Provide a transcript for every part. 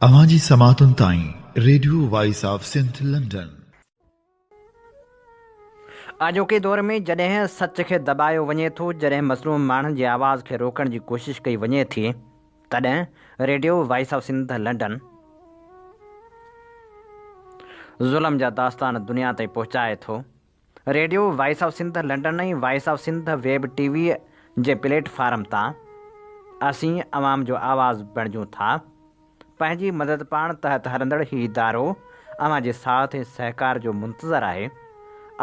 اوهان جي سماعتن تائين radio voice of Sindh London. اڄوڪي دور ۾ جڏهن سچ کي دٻايو وڃي ٿو، جڏهن مظلوم ماڻهن جي آواز کي روڪڻ جي ڪوشش ڪئي وڃي ٿي، تڏهن radio voice of Sindh London ظلم جا داستان دنيا تائين پهچائي ٿو. Radio voice of Sindh London ۽ voice of Sindh web T V جي پليٽ فارم تان اسين عوام جو آواز بڻجون ٿا. پنهنجي مدد پاڻ تحت هلندڙ هي ادارو اوهان جي ساٿ ۽ سهڪار جو منتظر آهي.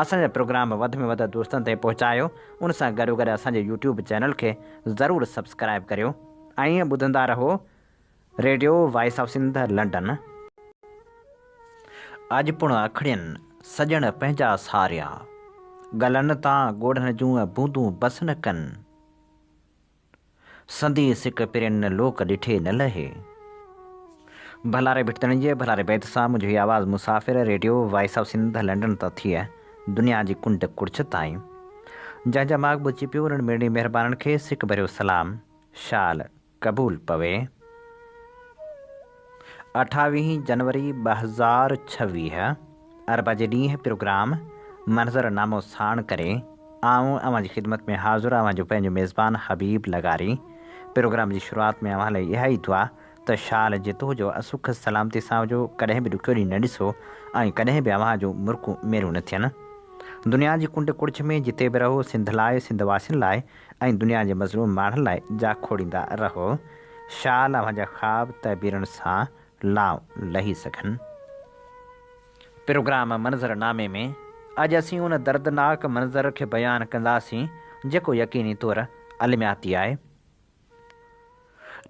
اسان جا پروگرام وڌ ۾ وڌ دوستن تائين پهچايو ان سان گڏو گڏ اسان جي يوٽيوب چينل کي ضرور سبسڪرائيب ڪريو ۽ ٻڌندا رهو. Radio voice of Sindh London اڄ پڻ اکڙين سڄڻ پنهنجا ساريا ڳلن تان ڳوڙهن جون بوندون بس نه ڪن سندي سڪ پرين لوڪ ڏٺي نه لهي ڀلاري ڀٽتڻي جي ڀلاري بيت سان منهنجي هي آواز مسافر radio voice of Sindh London تان ٿئي دنيا جي ڪنڊ ڪڙڇ تائين جنهن جا ماڳ ٻڌجي پيو انهن ميڙني مهربانن کي سڪ ڀريو سلام شال قبول پوي. اٺاويهين جنوري ٻه هزار ڇويهه اربع جي ڏينهن پروگرام منظر نامو ساڻ ڪري آئون اوهان جي خدمت ۾ حاضر اوهان جو پنهنجو ميزبان حبيب لغاري پروگرام جي شروعات ۾ اوهان لاء اها ئي دعا ته شال جتوء جو سک سلامتي سان هجو ڪڏهن به ڏکيو ڏينهن نه ڏسو ۽ ڪڏهن به اوهان جون مرڪون ميرون نه ٿين دنيا جي ڪنڊ ڪڙڇ ۾ جتي به رهو سنڌ لاء سنڌ واسين لاء ۽ دنيا جي مظلوم ماڻهن لاء جا کوڙيندا رهو، شال اوهان جا خواب تعبيرن سان لائون لهي سگهن. پروگرام منظر نامي ۾ اڄ اسين ان دردناڪ منظر کي بيان ڪنداسين جيڪو يقيني طور المياتي آهي.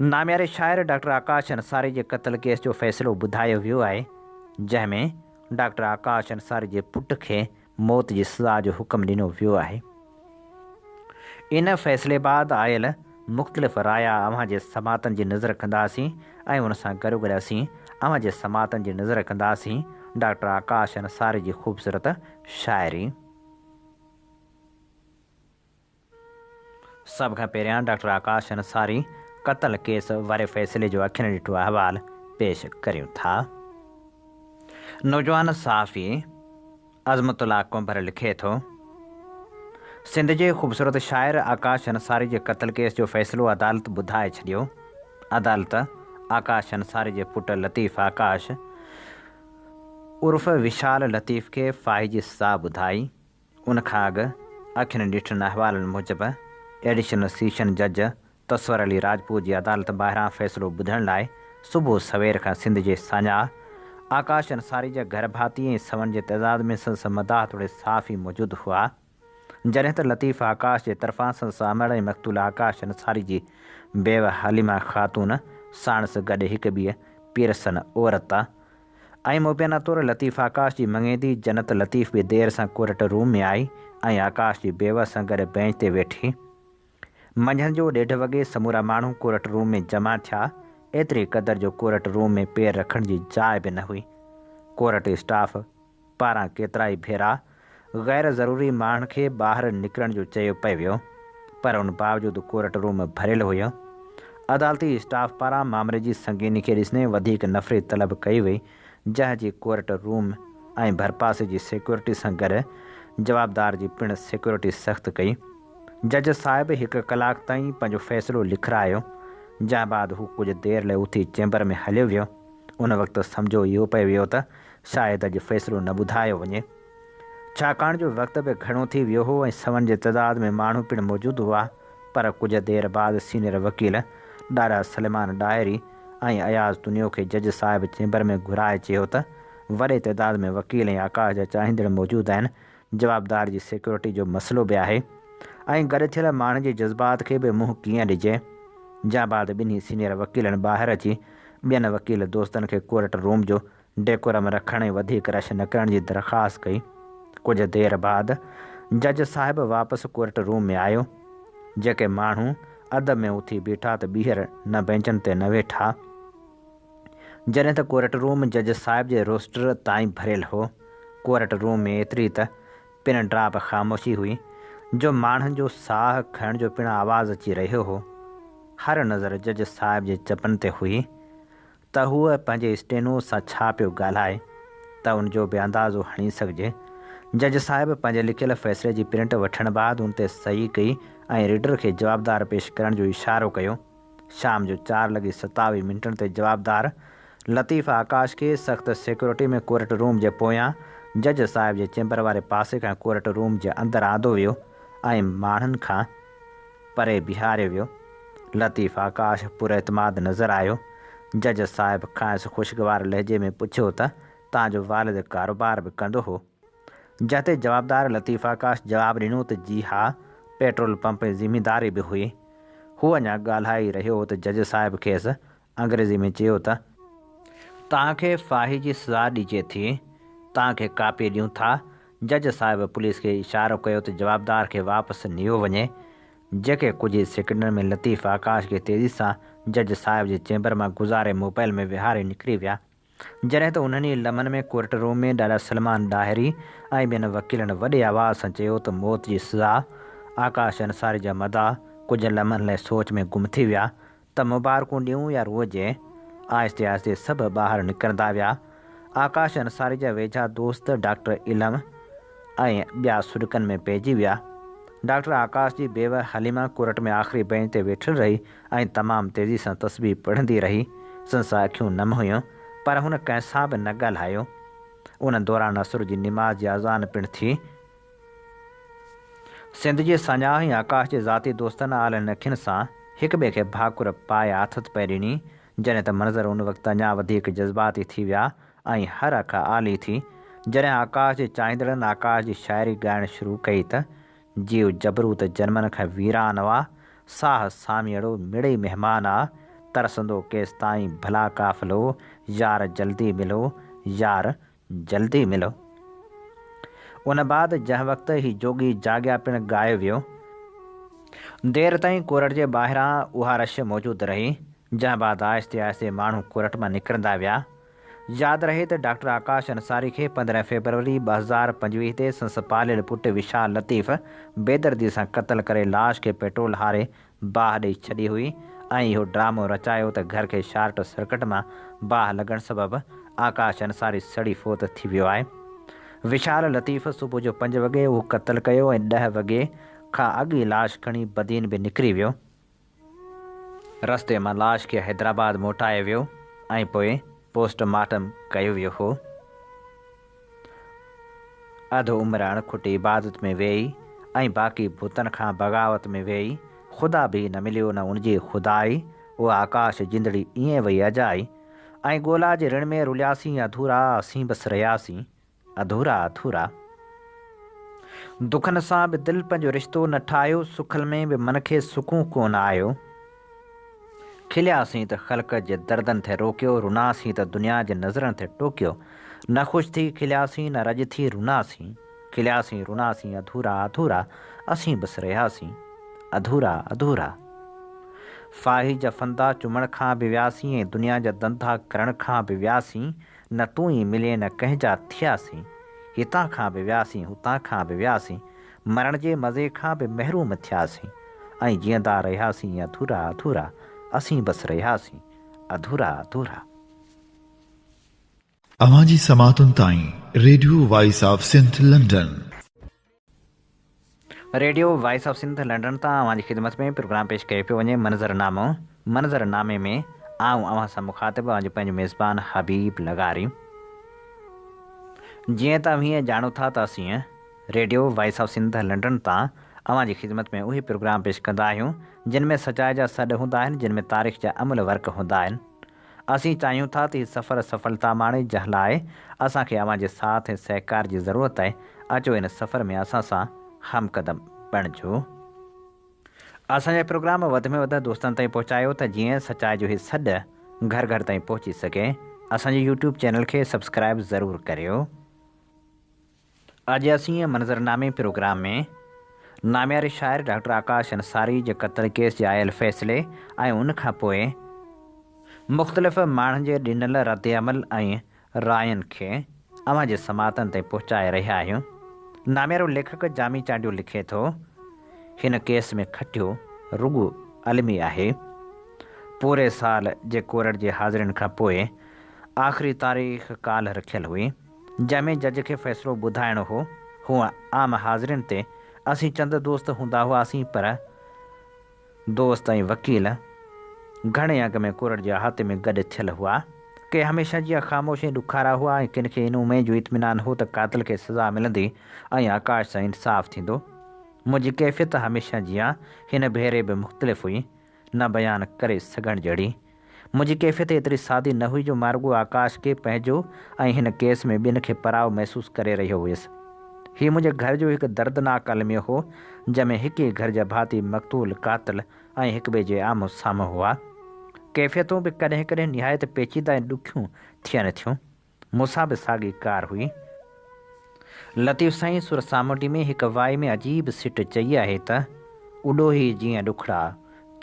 نامياري شاعر ڊاڪٽر آڪاش انصاري جي قتل ڪيس جو فيصلو ٻڌايو ويو آهي، جنهن ۾ ڊاڪٽر آڪاش انصاري جي پٽ کي موت جي سزا جو حڪم ڏنو ويو آهي. ان فيصلي بعد آيل مختلف رايا اوهان جي سماعتن جي نذر ڪنداسين ۽ ان سان گڏوگڏ اسين اوهان جي سماعتن جي نذر ڪنداسين ڊاڪٽر آڪاش انصاري جي خوبصورت شاعري. سڀ کان پهريان ڊاڪٽر آڪاش انصاري قتل ڪيس واري فيصلي جو اکين ڏٺو احوال پيش ڪريون ٿا. نوجوان صحافي عظمت الله ڪنڀر لکي ٿو، سنڌ جي خوبصورت شاعر آڪاش انصاري جي قتل ڪيس جو فيصلو عدالت ٻڌائي ڇڏيو. عدالت آڪاش انصاري جي پٽ لطيف آڪاش عرف وشال لطيف کي فاهي جي سزا ٻڌائي. ان کان اڳ اکين ڏٺن احوالن موجب ايڊيشنل سيشن جج تصور علي راجپوت جي عدالت ٻاهران فيصلو ٻڌڻ لاء صبح سوير کان سنڌ جي ساڃاهه آڪاش انصاري جا گهر ڀاتي ۽ سون جي تعداد ۾ سندس مداح توڙي صحافي موجود هئا جڏهن ته لطيف آڪاش جي طرفان سندس امڙ ۽ مقتول آڪاش انصاري جي بيوه حليمه خاتون ساڻس گڏ هڪ ٻي پيرسن عورت ۽ مبينا طور لطيف آڪاش جي مڱيندي جنت لطيف به دير سان ڪورٽ روم ۾ آئي ۽ آڪاش جي بيوس سان گڏ بئنچ تي ويٺي. منجهند جو ڏيڍ وڳي سمورا ماڻهو ڪورٽ روم ۾ جمع ٿيا، ايتري قدر جو ڪورٽ روم ۾ پير رکڻ جي جاء به نه هئي. Court staff. پاران ڪيترائي ڀيرا غير ضروري ماڻهن کي ٻاهر نڪرڻ جو چيو پئي ويو پر ان باوجود ڪورٽ روم ڀريل هيو. عدالتي اسٽاف پاران معاملي جي سنگيني کي ڏسندي وڌيڪ نفري طلب ڪئي وئي جنهن جي ڪورٽ روم ۽ ڀرپاسي جي سيڪيورٽي سان گڏ جوابدار جي پڻ سيڪيورٽي سخت ڪئي. جج صاحب هڪ ڪلاڪ تائين پنهنجو فيصلو لکرايو جنهن بعد هو ڪجهه دير لاء اٿي چيمبر ۾ هليو ويو. ان وقت سمجهو اهو پئي ويو ته شايد اڄ فيصلو نه ٻڌايو وڃي، ڇاڪاڻ جو وقت به گهڻو ٿي ويو هو ۽ سون جي تعداد ۾ ماڻهو پڻ موجود هئا، پر ڪجهه دير بعد سينئر وڪيل ڏاڏا سليمان ڏاهري ۽ اياز تنيو کي جج صاحب چيمبر ۾ گهرائي چيو ته وڏي تعداد ۾ وڪيل ۽ آڪاش جا چاهيندڙ موجود آهن، جوابدار جي سيڪيورٽي جو مسئلو به آهي ۽ گڏ ٿيل ماڻهن جي جذبات کي به منهن ڪيئن ڏجي، جنهن بعد ٻنهي سينئر وڪيلن ٻاهر اچي ٻين وڪيل دوستن کي ڪورٽ روم جو ڊيڪورم رکڻ ۽ وڌيڪ رش نه ڪرڻ جي درخواست ڪئي. ڪجهه دير بعد جج صاحب واپس ڪورٽ روم ۾ آيو. جيڪي ماڻهو ادب ۾ اٿي بيٺا ته ٻيهر نه بئنچن تي نه ويٺا. جڏهن ته ڪورٽ روم جج صاحب جي روسٽر تائين ڀريل هو. ڪورٽ روم ۾ ايتري ته پن ڊراپ خاموشي هئي جو ماڻهن جو ساهه کڻڻ جو پڻ آواز اچي رهيو هو. هر نظر جج صاحب جي چپن تي هئي. ته هوء پنهنجي اسٽينو سان ڇا پيو ڳالهائي ته ان جو به اندازو هڻي سگهجي. جج صاحب پنهنجي لکيل فيصلي جي پرنٽ وٺڻ بعد ان تي صحيح ڪئي ۽ ريڊر کي جوابدار پيش ڪرڻ جو اشارو ڪيو. شام جو چار لڳي ستاويهه منٽن تي جوابدار لطيف آڪاش کي سخت سيڪيورٽي ۾ ڪورٽ روم جي پويان جج صاحب جي چيمبر واري پاسي کان ڪورٽ روم جي اندر آندو ويو ۽ ماڻهن کان پري بيهاريو ويو. لطيف آڪاش پراعتماد نظر آيو. جج صاحب کانئس خوشگوار لهجي ۾ پڇيو ته توهان جو والد ڪاروبار به ڪندو هو؟ جنهن تي جوابدار لطيف آڪاش جواب ڏنو ته جي ها، پيٽرول پمپ ۾ زمينداري به هئي. هو اڃا ڳالهائي رهيو هو ته جج صاحب کيس انگريزي ۾ چيو ته، توهان کي ڦاهي جي سزا ڏجي ٿي، توهان کي ڪاپي ڏيون ٿا. جج صاحب پوليس کي اشارو ڪيو ته جوابدار کي واپس نيو وڃي. جيڪي ڪجهه ئي سيڪنڊن ۾ لطيف آڪاش کي تيزي سان جج صاحب جي چيمبر مان گذاري موبائل ۾ ويهاري نڪري ويا. جڏهن ته انهن ئي لمحن ۾ ڪورٽ روم ۾ ڏاڏا سلمان ڏاهري ۽ ٻين وڪيلن وڏي آواز سان چيو ته موت جي سزا، آڪاش انصاري جا مداح ڪجهه لمحن لاء سوچ ۾ گم ٿي ويا ته مبارڪون ڏيون يا روئجي؟ آهستي آهستي سڀ ٻاهر نڪرندا ويا. آڪاش انصاري جا ويجها دوست ڊاڪٽر علم ۽ ٻيا سڏڪن ۾ پئجي ويا. ڊاڪٽر آڪاش جي بيوه حليمه ڪورٽ ۾ آخري بئنچ تي ويٺل رهي. ۽ تمام تيزي سان تسبيح پڙهندي رهي، سندس اکيون نم هيون، پر هن ڪنهن سان به نه ڳالهايو، ان دوران عصر جي نماز جي اذان پڻ ٿي. سنڌ جي ساڃاهه ۽ آڪاش جي ذاتي دوستن عالين اکين سان هڪ ٻئي کي ڀاڪر پائي آٿت پئي ڏني، جڏهن ته منظر ان وقت اڃا وڌيڪ جذباتي ٿي ويا ۽ هر اک آلي ٿي، جڏهن آڪاش جي چاهيندڙن آڪاش جي شاعري ڳائڻ شروع ڪئي ته جيو جبرو ته جنمن کان ويران آ، ساهه ساميئڙو مڙئي مهمان آ، ترسندو ڪيستائين ڀلا قافلو، يار جلدي ملو، يار جلدي ملو. ان بعد جنهن وقت هي جوڳي جاڳيا پڻ ڳايو ويو. دير تائين ڪورٽ جي ٻاهران اها رش موجود رهي، جنهن بعد آهستي آهستي ماڻهو ڪورٽ مان نڪرندا ويا. ياد رهي ته ڊاڪٽر آڪاش انصاري کي پندرهن فيبروري ٻه هزار پنجويهه تي سندس پاليل پٽ وشال لطيف بيدردي سان قتل ڪري لاش کي پيٽرول هاري باهه ڏئي ڇڏي هئي ۽ اهو ڊرامو رچايو ته گهر کي شارٽ سرڪٽ مان باهه لڳڻ سبب آڪاش انصاري سڙي فوت ٿي ويو آهي وشال لطيف صبح جو پنج وڳي اهو قتل ڪيو ۽ ڏهه وڳي کان اڳ ئي لاش کڻي بدين به نڪري ويو. رستي مان لاش کي حيدرآباد موٽايو ويو ۽ پوء پوسٽ مارٽم ڪيو ويو هو. اڌ عمر اڻکٽي عبادت ۾ ويئي ۽ باقي بتن کان بغاوت ۾ ويئي. خدا به نه مليو نه ان جي خدائي. اها آڪاش جندڙي ائين وئي اجائي. ۽ ڳولا جي رڻ ۾ رلياسين اڌورا اسين بس رهياسين. اڌورا اٿورا دکن سان به دل پنهنجو رشتو نه ٺاهيو سکل ۾ به من کي سڪون ڪونه آيو کلياسين ته خلق جي دردن ٿي روڪيو روناسين ته دنيا جي نظرن ٿي ٽوڪيو نه خوش ٿي کلياسين نه رڄ ٿي روناسين کلياسين روناسين اڌورا اڌورا اسين بس رهياسين اڌورا اڌورا فاهي جا ڦندا چمڻ کان به وياسين ۽ دنيا جا ڌنڌا ڪرڻ کان به وياسين نه تون ئي ملين نه ڪنهن جا ٿياسين هتان کان به وياسين هتان کان به وياسين مرڻ جي مزي کان به محروم ٿياسين ۽ جيئندا رهياسين اڌورا اڌورا اسين بس رهياسين اڌورا اڌورا. اوهان جي سماعتن تائين radio voice of Sindh London. Radio voice of Sindh London تان اوهان جي خدمت ۾ پروگرام پيش ڪيو پيو وڃي منظر نامو منظر نامي ۾ آئون اوهان سان مخاطب اوهان جو پنهنجو ميزبان حبيب لغاري جيئن ته اوهين ڄاڻو ٿا ته اسين radio voice of Sindh London تان اوهان جي خدمت ۾ اهي پروگرام پيش ڪندا آهيون جن ۾ سچائي جا سڏ هوندا آهن جن ۾ تاريخ جا املهه ورق هوندا آهن اسين چاهيون ٿا ته هي سفر سڦلتا ماڻي جنهن لاء اسان کي اوهان جي ساٿ ۽ سهڪار جي ضرورت آهي اچو هن سفر ۾ اسان سان هم قدم بڻجو اسان جا پروگرام وڌ ۾ وڌ دوستن تائين پهچايو ته جيئن سچائي جو هي سڏ گهر گهر تائين پهچي سگهي اسان جي يوٽيوب چينل کي سبسڪرائب ضرور ڪريو. اڄ اسين منظرنامي پروگرام ۾ نامياري شاعر ڊاڪٽر آڪاش انصاري جي قتل ڪيس جي آيل فيصلي ۽ ان کان پوء مختلف ماڻهن جي ڏنل رد عمل ۽ راين کي اوهان جي سماعتن تائين پهچائي رهيا آهيون. ناميارو ليکڪ جامي چانڊيو لکي ٿو، هن ڪيس ۾ کٽيو رڳو علمي آهي. پوري سال جي ڪورٽ جي حاضرين کان پوء آخري تاريخ ڪالهه رکيل هئي. جنهن ۾ جج کي فيصلو ٻڌائڻو هو. هونء عام حاضرين تي اسين چند دوست هوندا هئاسين پر دوست ۽ وڪيل گهڻي اڳ ۾ ڪورٽ جي احاطي ۾ گڏ ٿيل هئا. ڪي هميشه جيان خاموش ۽ ڏکارا هئا ۽ ڪن کي ان اميد جو اطمينان هو ته قاتل کي سزا ملندي ۽ آڪاش سان انصاف ٿيندو. منهنجي ڪيفيت هميشه جيان هن ڀيري به مختلف هئي. نه بيان ڪري سگهڻ جهڙي. منهنجي ڪيفيت ايتري سادي نه هئي جو مان رڳو آڪاش کي پنهنجو ۽ هن ڪيس ۾ ٻين کي پراء محسوس ڪري رهيو هيس. هي منهنجي گهر جو هڪ دردناڪ الميو هو، جنهن ۾ هڪ ئي گهر جا ڀاتي مقتول، قاتل ۽ هڪٻئي جي آمهون سامهون هئا. ڪيفيتون به ڪڏهن ڪڏهن نهايت پيچيده ۽ ڏکيون ٿين ٿيون. مون سان به ساڳي ڪار هئي. لطيف سائين سر سامونڊي ۾ هڪ وائي ۾ عجيب سٽ چئي آهي ته، اڏوهي جيئن ڏکڙا،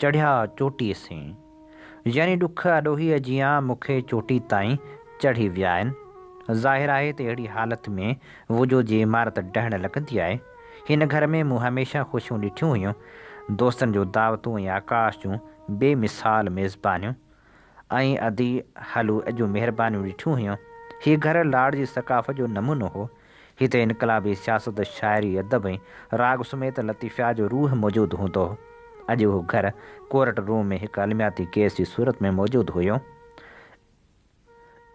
چڙهيا چوٽيء سين. يعني ڏک اڏوهيء جيان مون کي چوٽي تائين چڙهي ويا آهن. ظاهر آهي ته اهڙي حالت ۾ وجود جي عمارت ڊهڻ لڳندي آهي. هن گهر ۾ مون هميشه خوشيون ڏٺيون هيون. دوستن جون دعوتون ۽ آڪاش جون بي مثال ميزبانيون. ۽ ادي هلو جون مهربانيون ڏٺيون هيون. هي گهر لاڙ جي ثقافت جو نمونو هو. هتي انقلابي سياست، شاعري، ادب ۽ راڳ سميت لطيفيات جو روح موجود هوندو هو. اڄ اهو گهر ڪورٽ روم ۾ هڪ المياتي ڪيس جي صورت ۾ موجود هيو.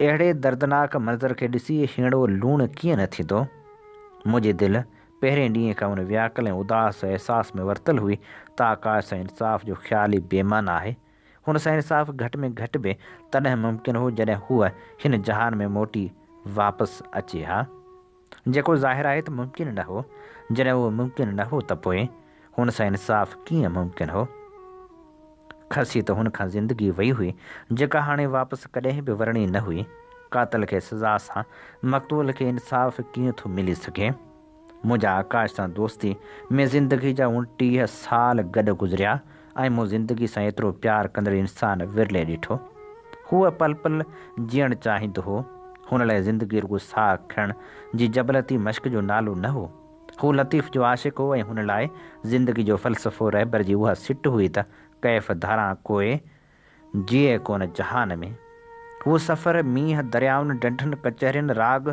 اهڙي دردناڪ منظر کي ڏسي هيڻو لوڻ ڪيئن نه ٿيندو؟ منهنجي دل پهرين ڏينهن کان ان وياڪل ۽ اداس احساس ۾ ورتل هئي ته آڪاش سان انصاف جو خيال ئي بي معنيٰ آهي. هن سان انصاف گهٽ ۾ گهٽ به تڏهن ممڪن هو جڏهن هوء هن جهان ۾ موٽي واپس اچي ها. جيڪو ظاهر آهي ته ممڪن نه هو. جڏهن اهو ممڪن نه هو ته پوء هن سان انصاف ڪيئن ممڪن هو؟ کسي ته هن کان زندگي وئي هئي جيڪا هاڻي واپس ڪڏهن به ورڻي نه هئي. قاتل کي سزا سان مقتول کي انصاف ڪيئن ٿو ملي سگهي؟ منهنجا آڪاش سان دوستي ۾ زندگي جا اڻٽيهه سال گڏ گذريا ۽ مون زندگي سان ايترو پيار ڪندڙ انسان ورلي ڏٺو. هو پل پل جيئڻ چاهيندو هو. هن لاء زندگي رڳو ساهه کڻڻ جي جبلتي مشق جو نالو نه هو. هو لطيف جو عاشق هو ۽ هن لاء زندگي جو فلسفو رهبر جي اها سٽ هئي ته ڪيف ڌاران ڪوئي جيئي ڪونه جهان ۾. هو سفر مينهن دريائن ڍنڍن ڪچهرين راڳ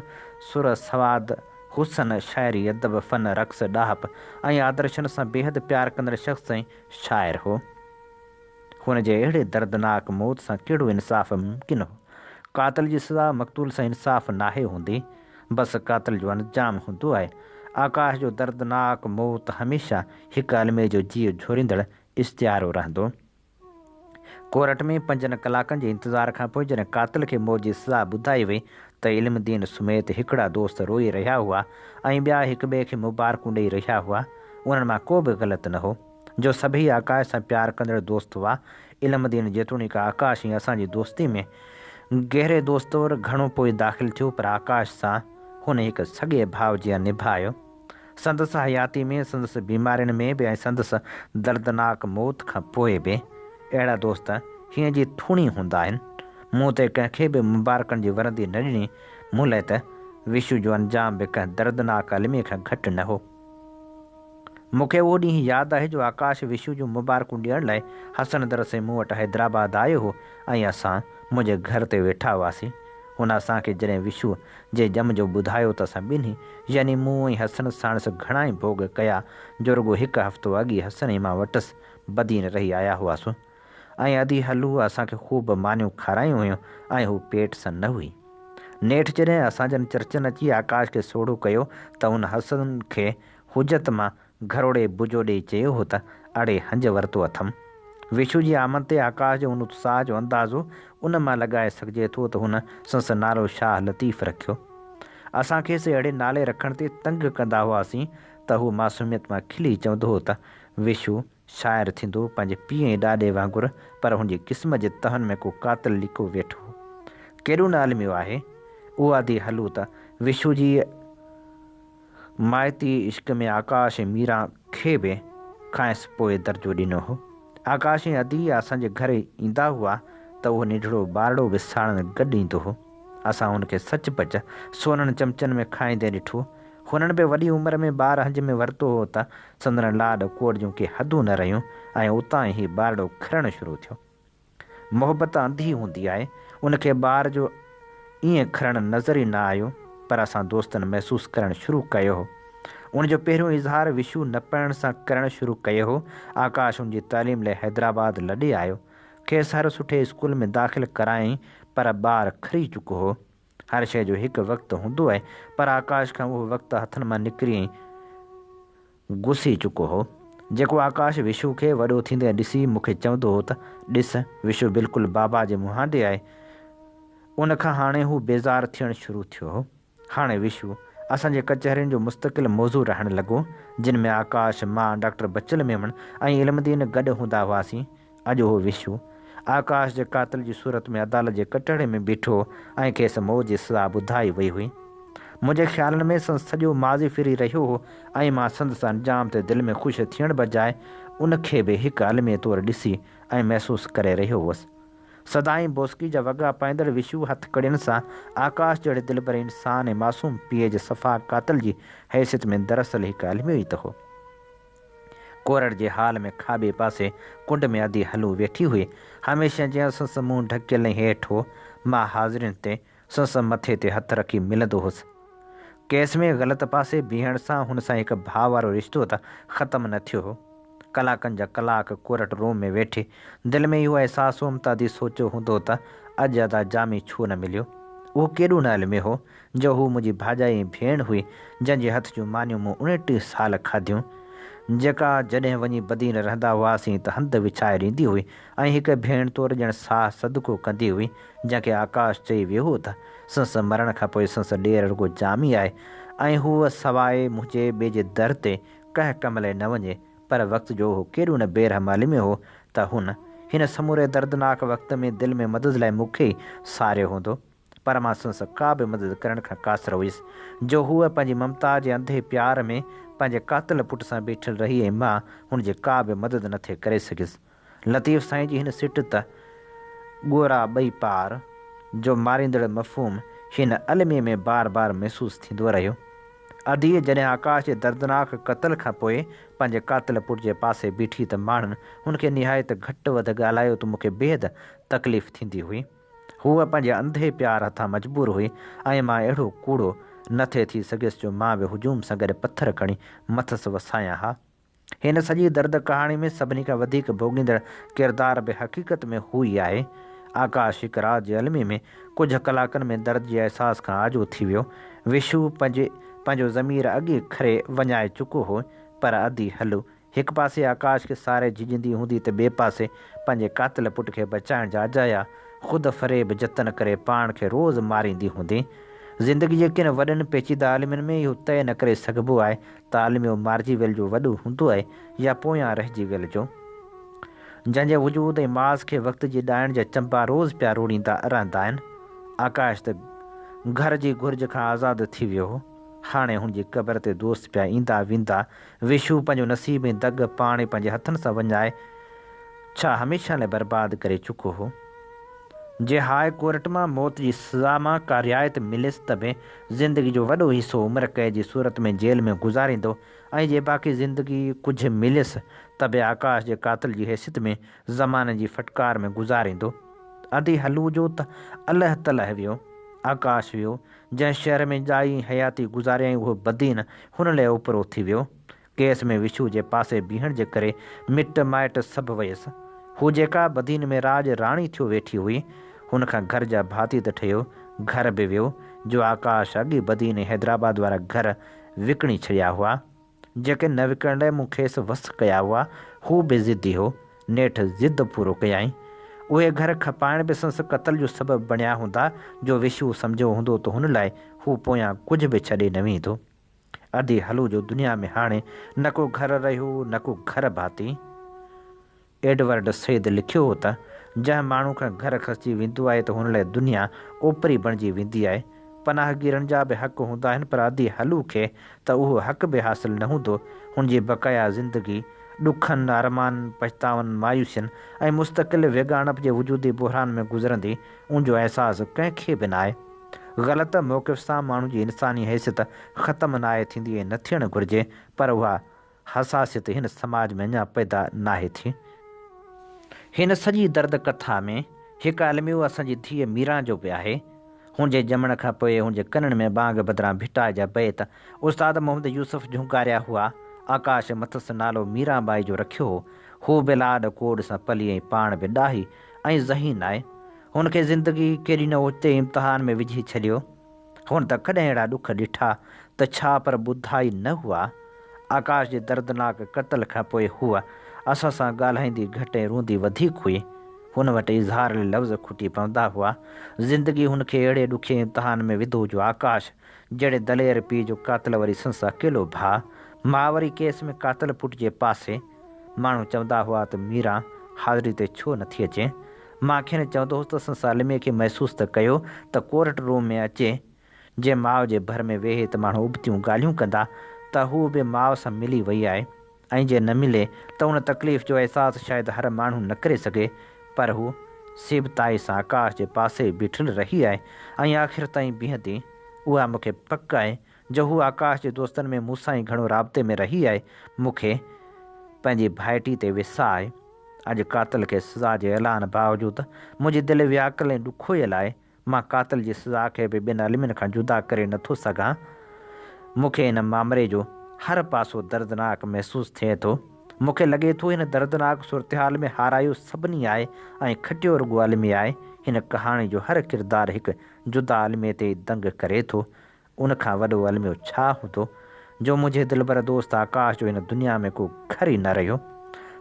سر سواد حسن شاعري ادب فن رقص ڏاهپ ۽ آدرشن سان بيحد پيار ڪندڙ شخص ۽ شاعر هو. هن جي اهڙي دردناڪ موت سان ڪهڙو انصاف ممڪن هو. قاتل جي سزا مقتول سان انصاف ناهي هوندي بس قاتل جو انجام هوندو آهي. آڪاش جو دردناڪ موت هميشه هڪ الميي جو جيء جهوريندڙ استعارو رهندو. ڪورٽ ۾ پنجن ڪلاڪن جي انتظار کانپوء جڏهن قاتل کي موت جي سزا ٻڌائي وئي ته علم الدين سميت هڪڙا دوست روئي رهيا هئا ۽ ٻيا هڪ ٻئي کي مبارڪون ڏئي رهيا هئا. انهن مان ڪو به غلط نه هو جو سڀئي آڪاش سان پيار ڪندڙ دوست هئا. علم الدين جيتوڻيڪ آڪاش ۽ اسان جي دوستي ۾ گهري دوست طور گهڻو پوء داخل ٿيو پر آڪاش سان هن هڪ سڳي ڀاء جيان نڀايو. سندس حياتي ۾ سندس بيمارين ۾ به ۽ سندس دردناڪ موت کان پوء به اهڙا دوست هينئن جي ٿوڻي هوندا آهن. مون ته ڪنهن کي به مبارڪن جي ورندي نه ڏني، مون لاء ته وشو جو انجام به ڪنهن دردناڪ الميي کان گهٽ نه هو. مون کي اهو ڏينهن ياد آهي جو آڪاش وشو جون مبارڪون ڏيڻ لاء حسن در سين مون وٽ حيدرآباد آيو هو ۽ اسان منهنجي گهر تي ويٺا هئاسين. هن اسان کي جڏهن وشو جي ڄم جو ٻڌايو ته اسان ٻنهي يعني مون ۽ حسن ساڻس گهڻائي ڀوڳ ڪيا جو رڳو هڪ هفتو اڳ ئي حسن ۽ مان وٽس بدين رهي آيا هئاسون ۽ ادي هلوء اسان کي خوب مانيون کارايون هيون ۽ هوء پيٽ سان نه هئي. نيٺ جڏهن اسان جن چرچن اچي آڪاش کي سوڙهو ڪيو ته هن حسن کي حجت مان گهروڙي بجو ڏيئي چيو هو ته اڙي هنج ورتو اٿم. ويشو جي آمد تي آڪاش جو ان اتساهه جو اندازو ان مان لڳائي سگهجي ٿو ته هن سنس نالو شاهه لطيف رکيو. اسان کيس اهڙي نالي رکڻ تي تنگ ڪندا هئاسين ته هو معصوميت مان کلي چوندو هو ته ويشو شاعر ٿيندو پنهنجي پيء ۽ ڏاڏي وانگر پر هن جي قسمت جي تهن ۾ ڪو قاتل لڪو ويٺو هو. ڪيڏو نه الميو آهي اهو ادي هلو ته ويشو جي مائتي عشق ۾ آڪاش ۽ ميرا کي به کانئس پوء درجو ڏنو هو. آڪاش ۽ ادي اسان جي گهر ايندا هئا ته اهو ننڍڙو ٻارڙو به ساڻن گڏ ايندو هو. اسان هن کي سچ پچ سونن چمچن ۾ کائيندي ڏٺو. هنن به وڏي عمر ۾ ٻار هنج ۾ ورتو هو ته سندن لاڏ ڪوڏ جون ڪي حدون نه رهيون ۽ اتان ئي هي ٻارڙو کرڻ شروع ٿيو. محبت انڌي هوندي آهي. ان کي ٻار جو ائين کرڻ نظر ئي نه آيو، پر اسان دوستن محسوس ڪرڻ شروع ڪيو هو. ان جو پهريون اظهار وشو نه پڙهڻ سان ڪرڻ شروع ڪيو هو. آڪاش ان جي تعليم لئه حيدرآباد لڏي آيو. کيس هر سٺي اسڪول ۾ داخل ڪرايائين، پر ٻار کري چڪو هو. هر شيء جو هڪ وقت هوندو آهي، پر آڪاش کان اهو وقت هٿن مان نڪري گسي چڪو هو. جيڪو آڪاش وشو کي وڏو ٿيندي ڏسي مون کي چوندو هو ته، ڏس، وشو بلڪل بابا جي مهانڊي آهي، ان کان هاڻي هو بيزار ٿيڻ شروع ٿيو هو. هاڻي وشو، اسان جي ڪچهرين جو مستقل موضوع رهڻ لڳو، جن ۾ آڪاش، مان، ڊاڪٽر بچل ميمڻ ۽ علم دين گڏ هوندا هئاسين. اڄ اهو وشو آڪاش جي قاتل جي صورت ۾ عدالت جي ڪٽهڙي ۾ بيٺو ۽ کيس موت جي سزا ٻڌائي وئي هئي. منهنجي خيالن ۾ سندس سڄو ماضي ڦري رهيو هو ۽ مان سندس انجام تي دل ۾ خوش ٿيڻ بجاء ان کي به هڪ الميي طور ڏسي ۽ محسوس ڪري رهيو هوس. سدائين بوسڪي جا وڳا پائيندڙ وشو هٿ ڪڙين سان آڪاش جهڙي دلبر انسان ۽ معصوم پيء جي صفا قاتل جي حيثيت ۾ دراصل هڪ الميو ئي ته هو. ڪورڙ جي هال ۾ کاٻي پاسي ڪنڊ ۾ ادي هلو ويٺي هئي. هميشه جيان سندس منهن ڍڪيل ۽ هيٺ هو. مان حاضرين تي سندس مٿي تي هٿ رکي ملندو هوس. ڪيس ۾ غلط پاسي بيهڻ سان هن سان هڪ ڀاء وارو رشتو ته ختم نه ٿيو هو. ڪلاڪن جا ڪلاڪ ڪورٽ روم ۾ ويٺي دل ۾ اهو احساس هوم ته ادي سوچيو هوندو ته اڄ ادا جامي ڇو نه مليو. اهو ڪيڏو نه علمي هو جو هوء منهنجي ڀاڄائي ۽ ڀيڻ هئي، جنهن جي هٿ جون مانيون مون اڻٽيهه سال کاڌيون، جيڪا جڏهن وڃي بدين رهندا هئاسين ته هنڌ وڇائي ڏيندي هئي ۽ هڪ ڀيڻ طور ڄڻ ساهه صدقو ڪندي هئي، جنهن کي آڪاش چئي ويو هو ته سنس مرڻ کان پوء سنس ڏير رڳو جامي آهي ۽ هوء سواء منهنجي ٻئي جي در تي ڪنهن ڪم لئي نه وڃي، پر وقت جو هو ڪيڏو نه بي رحم عالم هو ته هن هن سموري دردناڪ وقت ۾ دل ۾ مدد لئي مون کي ئي ساريو هوندو. پر مان سندس ڪا به مدد ڪرڻ کان قاصر هيس، جو هوء پنهنجي ممتا جي انڌي پيار ۾ پنهنجي قاتل پٽ سان بيٺل رهي ۽ مان هن جي ڪا به مدد نه ٿي ڪري سگهيس. لطيف سائين جي هن سٽ ته ڳورا ٻئي پار جو ماريندڙ مفهوم هن الميي ۾ بار بار محسوس ٿيندو رهيو. اديء جڏهن آڪاش جي دردناڪ قتل کان پوء پنهنجي قاتل پٽ جي پاسي بيٺي ته ماڻهن هن کي نهايت گهٽ وڌ ڳالهايو ته مون کي بيحد تڪليف ٿيندي هئي. هوء پنهنجي انڌي پيار هٿان مجبور هئي ۽ مان اهڙو ڪوڙو نه ٿي ٿي سگهيس جو مان به هجوم سان گڏ پٿر کڻي مٿس وسايان ها. هن سڄي درد ڪهاڻي ۾ سڀني کان وڌيڪ ڀوڳيندڙ ڪردار به حقيقت ۾ هو ئي آهي. آڪاش هڪ رات جي المي ۾ ڪجهه ڪلاڪن ۾ درد جي احساس کان آجو ٿي ويو. وشو پنهنجي پنهنجو ضمير اڳي کري وڃائي چڪو هو پر ادي هلو هڪ پاسي آڪاش کي ساري جهڄندي هوندي ته ٻئي پاسي پنهنجي قاتل پٽ کي بچائڻ جا اجايا خود فريب جتن ڪري پاڻ کي روز ماريندي هوندي. زندگي جي ڪن وڏن پيچيده عالمين ۾ اهو طئي نه ڪري سگهبو آهي ته عالميو مارجي ويل جو وڏو هوندو آهي يا پويان رهجي ويل جو جنهن جي وجود ۽ ماس کي وقت جي ڏائڻ جا چنبا روز پيا روڙيندا رهندا آهن. آڪاش ته گهر جي گهرج کان آزاد ٿي ويو هو. هاڻي هن جي قبر تي دوست پيا ايندا ويندا وشو پنهنجو نصيب ۽ دڳ پاڻ ئي پنهنجي هٿن سان وڃائي ڇا هميشه لاء برباد ڪري چڪو هو؟ جي هاء ڪورٽ مان موت جي سزا مان ڪا رعايت مليس ته به زندگي جو وڏو حصو عمر قيد جي صورت ۾ جيل ۾ گذاريندو ۽ جي باقي زندگي ڪجهه مليس ته به آڪاش جي قاتل جي حيثيت ۾ زماني جي ڦٽڪار ۾ گذاريندو؟ ادي هلوجو ته الهه تلهه ويو، آڪاش ويو، جنهن شهر ۾ ڄائي حياتي گذاريائين اهو بدين هن لئه اوپرو ٿي ويو. ڪيس ۾ وشو جي پاسي بيهڻ جي ڪري مٽ مائٽ سڀ ويس. هو جيڪا بدين ۾ راڄ راڻي ٿيو ويٺي هئي، هن کان گهر جا ڀاتي ته ٺهيو، گهر به ويو، جو آڪاش اڳ ئي بدين حيدرآباد وارا گهر وڪڻي ڇڏيا هئا. جيڪي نه وڪڻڻ لاء مون کيس وس ڪيا هئا، هو به ضدي هو. نيٺ ضد پورو ڪيائين. اهي گهر کپائڻ به سندس قتل جو سبب بڻيا هوندا جو وشوء سمجهيو هوندو ته هن لاء هو پويان ڪجهه به ڇڏي نه ويندو. ادي هلو جو دنيا ۾ هاڻي نه ڪو گهر رهيو نه ڪو گهر ڀاتي. ايڊورڊ سيد لکيو هو ته، جنهن ماڻهو کان گهر کسجي ويندو آهي ته هن لاء دنيا اوپري بڻجي ويندي آهي. پناهگيرن جا به حق هوندا آهن پر ادي هلو کي ته اهو حق به حاصل نه هوندو. هن جي بقايا زندگي ڏکن، ارمانن، پڇتاون، مايوسين ۽ مستقل ويڳاڻپ جي وجودي بحران ۾ گذرندي ان جو احساس ڪنهن کي به ناهي. غلط موقف سان ماڻهو جي انساني حيثيت ختم ناهي ٿيندي ۽ نه ٿيڻ گهرجي پر اها. حساسيت هن سماج ۾ اڃا پيدا ناهي ٿي. هن سڄي درد ڪٿا ۾ هڪ الميو اسان جي ڌيء ميران جو به آهي. هن جي ڄمڻ کان پوء هن جي ڪنن ۾ ٻانگ بدران ڀٽائي جا بيت استاد محمد يوسف جهونڪاريا هئا. آڪاش مٿس نالو ميران ٻائي جو رکيو هو. هوء به لاڏ ڪوڏ سان پلي ۽ پاڻ به ڏاهي ۽ ذهين آهي. هن کي زندگي ڪيڏي نه اوچتي امتحان ۾ وجهي ڇڏيو. هن ته ڪڏهن اهڙا ڏک ڏٺا ته ڇا پر ٻڌا ئي نه هئا. آڪاش جي دردناڪ قتل کان پوء هوء اسان سان ڳالهائيندي گهٽ ۽ روئندي وڌيڪ هئي. هن وٽ اظهار لي لفظ کٽي پوندا هئا. زندگي هن کي اهڙي ڏکي امتحان ۾ وڌو جو آڪاش جهڙي دلير پيء جو قاتل وري سندس اڪيلو ڀاء. ماء وري ڪيس ۾ قاتل پٽ جي پاسي. ماڻهو چوندا هئا ته ميران حاضري تي ڇو نٿي اچين؟ مان کين چوندو هوس ته سالميء کي محسوس ته ڪيو ته ڪورٽ روم ۾ اچي جي ماء جي ڀر ۾ ويهي ته ماڻهو ابتيون ڳالهيون ڪندا ته هوء به ماء سان ملي وئي آهي ۽ جي نه ملي ته ان تڪليف جو احساس شايد هر ماڻهو نه ڪري سگهي پر هوء سيبتائي سان آڪاش جي پاسي ئي بيٺل رهي آهي ۽ آخر تائين بيهندي اها مون کي پڪ آهي جو هو آڪاش جي دوستن ۾ مون سان ئي گهڻو رابطي ۾ رهي آهي. مون کي پنهنجي ڀائٽي تي ويساهه آهي. اڄ قاتل کي سزا جي اعلان باوجود منهنجي دل وياڪل ۽ ڏکويل آهي. مان قاتل جي سزا کي به ٻين المين کان جدا ڪري نه ٿو سگهان. مون کي هن مامري جو هر پاسو دردناڪ محسوس ٿئي ٿو. مون کي لڳي ٿو هن دردناڪ صورتحال ۾ هارايو سڀني آهي ۽ کٽيو رڳو المي آهي. هن ڪهاڻي جو هر ڪردار هڪ جدا المي تي ئي دنگ ڪري ٿو ان کان وڏو الميو ڇا هوندو، جو منهنجي دلبر دوست آڪاش جو هن دنيا ۾ ڪو گهر ئي نه رهيو.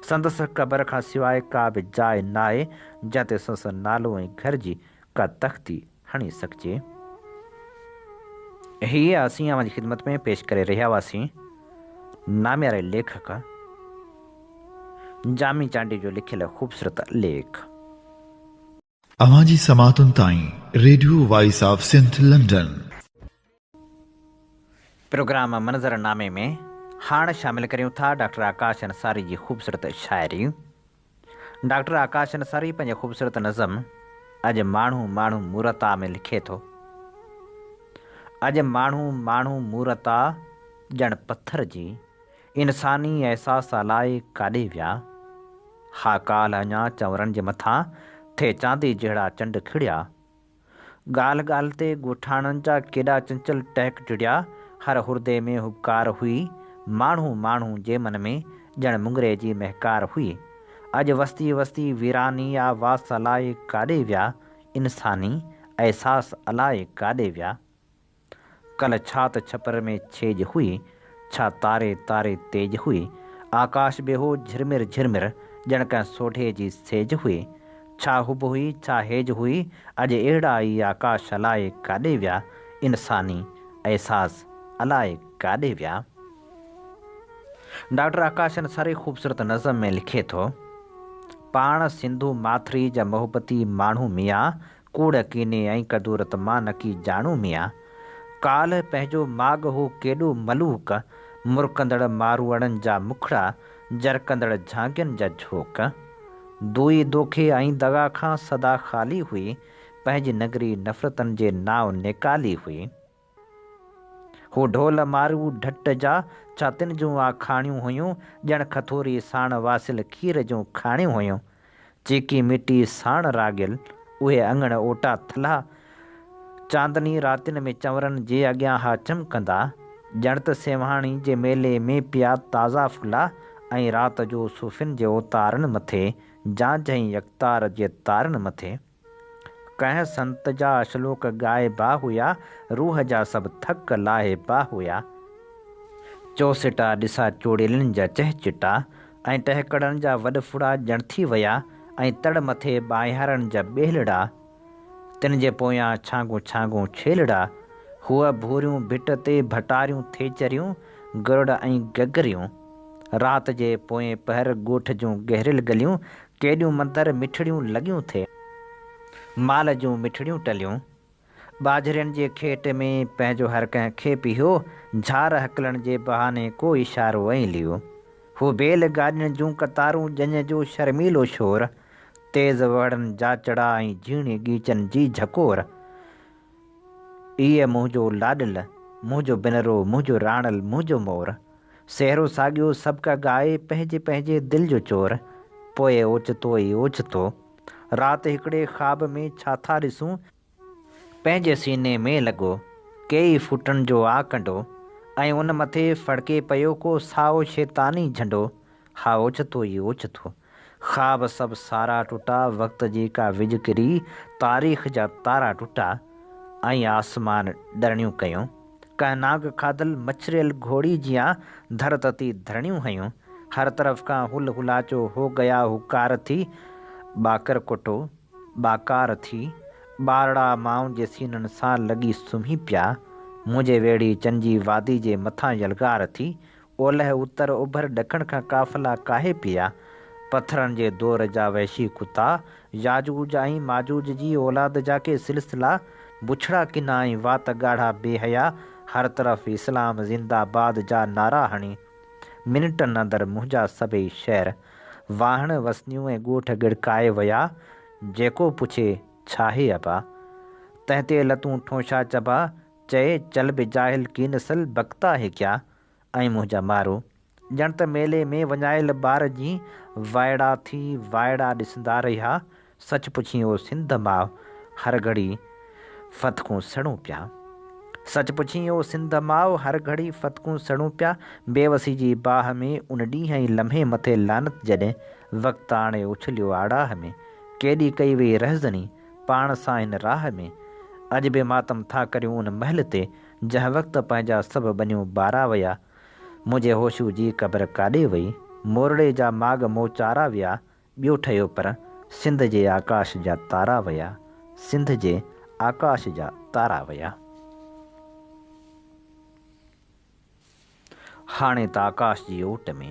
سندس قبر کان سواء ڪا به جاء ناهي، جنهن تي سندس نالو ۽ گهر جي ڪا تختي هڻي سگهجي. هي اسين اوهان جي خدمت ۾ پيش ڪري رهيا هئاسين، نامياري ليکڪ جامي چانڊيو جو لکيل خوبصورت ليک. اوهان جي سماعتن تائين radio voice of Sindh London. Program منظر نامي ۾ هاڻ شامل ڪريون ٿا ڊاڪٽر آڪاش انصاري جي خوبصورت شاعري. ڊاڪٽر آڪاش انصاري پنهنجي خوبصورت نظم اڄ ماڻهو ماڻهو مورتا ۾ لکي ٿو. اڄ ماڻهو ماڻهو مورتا ڄڻ پٿر جي. انساني احساس الاء ڪاڏي ويا. ها ڪالهه اڃا چؤرن جي مٿان ٿي چاندي جهڙا چنڊ کڙيا. ڳالهه ڳالهه تي ڳوٺاڻن جا ڪيڏا چنچل ٽهڪ ٽڙيا، هر هردي ۾ هٻڪار هئي، ماڻهو ماڻهو جي من ۾ ڄڻ مڱري جي مهڪار هئي. اڄ وستي وستي ويراني آ واس الاء ڪاڏي ويا، انساني احساس الاء ڪاڏي ويا. ڪلهه ڇا ته ڇپر ۾ ڇيڄ هئي، ڇا تاري تاري تيج هئي، آڪاش به هو جهرمر جهرمر، ڄڻ ڪنهن سوڍي جي سيج هئي. ڇا حب هئي، ڇا هيج هئي، اڄ اهڙا ئي آڪاش الاء ڪاڏي ويا، انساني احساس الاء ڪاڏي ويا. ڊاڪٽر آڪاشن سري خوبصورت نظم ۾ لکي ٿو، پاڻ سنڌو ماٿري جا محبتي ماڻهو ميان ڪوڙ ڪيني ۽ ڪدورت مان نڪي جاڻو ميان، ڪالهه پنهنجو ماڳ هو ڪيڏو ملوڪ، مرڪندڙ ماروئڙن جا مکڙا، جرڪندڙ جهانگين جا جهوڪ. دوئي دوکي ۽ دغا کان سدا خالي هئي، پنهنجي نگري نفرتن جي نانء نيڪالي هئي. هو ڍول مارو ڍٽ جا، ڇا تن جون آکاڻيون هيون، ڄڻ کٿوري ساڻ واصل کير جون کاڻيون هيون. چيڪي ميٽي ساڻ راڳيل اهي اڱڻ اوٽا ٿلها، چاندني راتين ۾ چنورن جي اڳيان ها چمڪندا، ڄڻ ته سيوهاڻي جي ميلي ۾ پيا تازا ڦلا ۽ رات جو صوفين جي اوتارن مٿي، جانجهه ۽ يڪتار جي تارن مٿي. ڪنهن سنت جا شلوڪ ڳائبا هيا، روح جا سڀ ٿڪ لاهيبا هيا. چوسٽا ڏسا چوڙيلن جا چهچٽا ۽ ٽهڪڙن جا وڏڦڙا ڄڻ ٿي ويا ۽ تڙ مٿي ٻانهيارن جا ٻيلڙا، تن جي پويان ڇانگون ڇانگون ڇيلڙا، هوء ڀوريون ڀٽ تي ڀٽاريون ٿيچريون، گرڙ ۽ گگريون. رات جي پوئين پهر ڳوٺ جون گهريل گليون ڪيڏيون مندر مٺڙيون لڳيون ٿي. مال جون مٺڙيون ٽليون. ٻاجهرين جي کيٽ ۾ پنهنجو هر ڪنهن کي پيهيو، جھار هڪلڻ جي بهاني ڪو اشارو ۽ ليو. هو بيل گاڏين جون قطارون، ڄڃ جو شرميلو شور، تيز وهڙن جاچڙا ۽ جھيڻي ڳيچن جي جھڪور. اي منهنجو لاڏل، منهنجو بنرو، منهنجو راڻل، منهنجو مور. سهرو ساڳيو سڀڪا ڳائي پنهنجي پنهنجي دل جو چور پوء اوچتو ئي اوچتو رات هڪڙي خواب ۾ ڇا ٿا ڏسون، پنهنجي سيني ۾ لڳو ڪيئي ڦوٽن جو آ ڪنڊو ۽ ان مٿي ڦڙڪي پيو ڪو سائو شيطاني جهنڊو ها اوچتو ئي اوچتو خواب سڀ سارا ٽٽا وقت جي ڪا وڄ ڪري تاريخ جا تارا ٽٽا ۽ آسمان ڏرڻيون ڪيون ڪنهن نانگ کاڌل مڇريل گهوڙي جيان ڌر تتي ڌرڻيون هنيون هر طرف کان هل هلاچو هو گيا هوڪار ٿي ٻاڪر ڪٽو ٻاڪار ٿي ٻارڙا مائن جي سينن سان لڳي سمهي پيا منهنجي ويڙهي چن جي وادي جي مٿان يلغار ٿي اولهه، اتر، اوڀر، ڏکڻ کان قافلا ڪاهي پيا. پٿرن جي دور جا وحشي ڪتا، ياجوج ۽ ماجوج جي اولاد جا ڪي سلسلا، بڇڙا ڪنا ۽ وات ڳاڙها بي حيا هر طرف اسلام زنده باد جا نعرا هڻي، منٽن اندر منهنجا سڀئي شهر، واهڻ، وسنيون ۽ ڳوٺ ڳڙڪائي ويا. جيڪو پڇي، ڇاهي ابا؟ تنهن تي لتون ٺونشا چبا، چئي، چل به جاهل ڪي نسل بڪتا هي ڪيا؟ ۽ منهنجا مارو ڄڻ ته ميلي ۾ وڃايل ٻار جيئن وائڙا ٿي وائڙا ڏسندا رهيا. سچ پڇين او سنڌ ماء هر گهڙي فتڪون سڙون پيا. سچ پڇين او سنڌ ماء هر گهڙي فتڪون سڙون پيا. بيوسي جي باهه ۾ ان ڏينهن ۽ لمحي مٿي لعنت جڏهن وقت آڻي اڇليو آڙاهه ۾ ڪيڏي ڪئي وئي رهزني پاڻ سان هن راهه ۾. اڄ به ماتم ٿا ڪريون ان مهل تي جنهن وقت پنهنجا سڀ ٻنيون ٻارا ويا، منهنجي هوشو جي قبر ڪاڏي وئي، مورڙي جا ماڳ مون چارا ويا، ٻيو ٺهيو پر سنڌ جي آڪاش جا تارا ويا، سنڌ جي آڪاش جا تارا ويا. هاڻي ته آڪاش جي اوٽ ۾.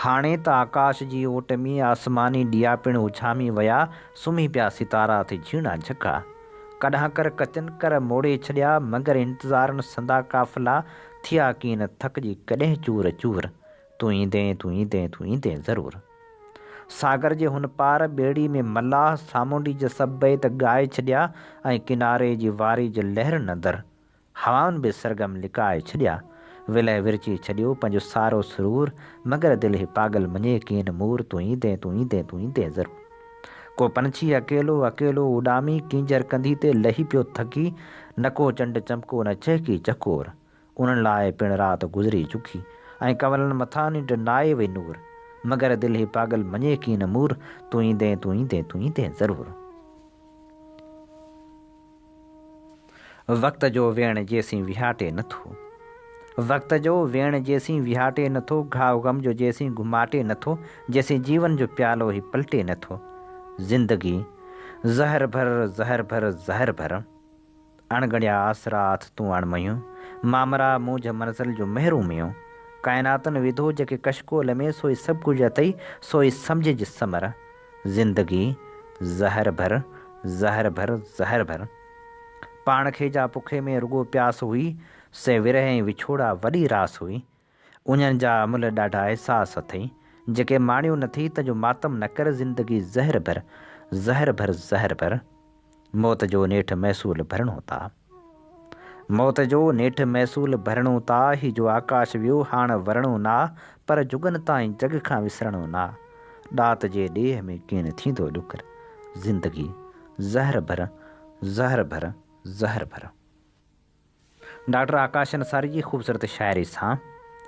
هاڻي ته آڪاش جي اوٽ ۾. آسماني ڏيئا پڻ اڇامي ويا. سمهي پيا ستارا اٿي جهيڻا جهڪا. ڪڏهن ڪر ڪچن ڪر موڙي ڇڏيا. مگر انتظارن سندا قافلا. ٿيا ڪين ٿڪجي ڪڏهن چور چور. تون ايندين تون ايندين تون ايندين ضرور. ساگر جي هن پار ٻيڙي ۾ ملاح سامونڊي جا سڀ بيت ڳائي ڇڏيا ۽ ڪناري جي واري جي لهر نندر هوائن به سرگم لڪائي ڇڏيا، ولهه ورچي ڇڏيو پنهنجو سارو سرور، مگر دل هي پاڳل مڃي ڪين مور، تون ايندين تون ايندين تون ايندين ضرور. ڪو پنڇي اڪيلو اڪيلو اڏامي، ڪينجهر ڪنڌي تي لهي پيو ٿڪي، نڪو چنڊ چمڪو نه چهڪي چڪور، انهن لاء پڻ رات گذري چڪي، ۽ ڪنولن مٿان ننڊ ناهي وئي نور، مگر دل هي پاڳل مڃي ڪين مور، تون ايندين تون ايندين تون ايندين ضرور. وقت جو ويڻ جيسين ويهاٽي نٿو. وقت جو ويڻ جيسين ويهاٽي نٿو، گهاء غم جو جيسين گهماٽي نٿو، جيسين جيون جو پيالو هي پلٽي نٿو. زندگي زهر ڀر، زهر ڀر، زهر ڀر. اڻڳڻيا آسرا اٿ تون اڻ مهيون، مامرا مونجهه منزل جون مهرون ميون. ڪائناتن وڌو جيڪي ڪشڪول ۾، سوئي سڀڪجهه اٿئي، سوئي سمجهج سمر. زندگي زهر ڀر، زهر ڀر، زهر ڀر. پاڻ کي جا پکي ۾ رڳو پياس هئي، سي ورهه ۽ وڇوڙا وڏي راس هئي. انهن جا املهه ڏاڍا احساس اٿئي، جيڪي ماڻيو نٿي، تنهنجو ماتم نه ڪر زندگي زهر ڀر، زهر ڀر، زهر ڀر. موت جو نيٺ محصول ڀرڻو تا. موت جو نيٺ محصول ڀرڻو تا، هي جو آڪاش ويو هاڻ ورڻو نا، پر جڳن تائين جڳ کان وسرڻو نا، ڏات جي ڏيهه ۾ ڪين ٿيندو ڏکر، زندگي زهر ڀر زهر ڀر زهر ڀر. ڊاڪٽر آڪاش انصاري جي خوبصورت شاعري سان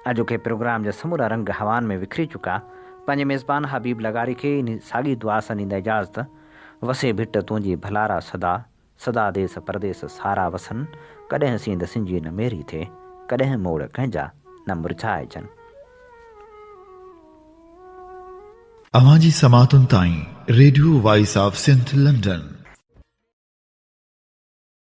اڄوڪي پروگرام جا سمورا رنگ هوائن ۾ وکري چڪا، پنهنجي ميزبان حبيب لغاري کي انهي ساڳي دعا سان ڏيندا اجازت، وسي ڀٽ تنهنجي ڀلارا سدا، سدا ديس پرديس سارا وسن، ڪڏهن سينڌ سنجي نه ميري ٿئي، ڪڏهن موڙ ڪنهن جا نه مرجهائجن. اوهان جي سماعتن تائين radio voice of Sindh London.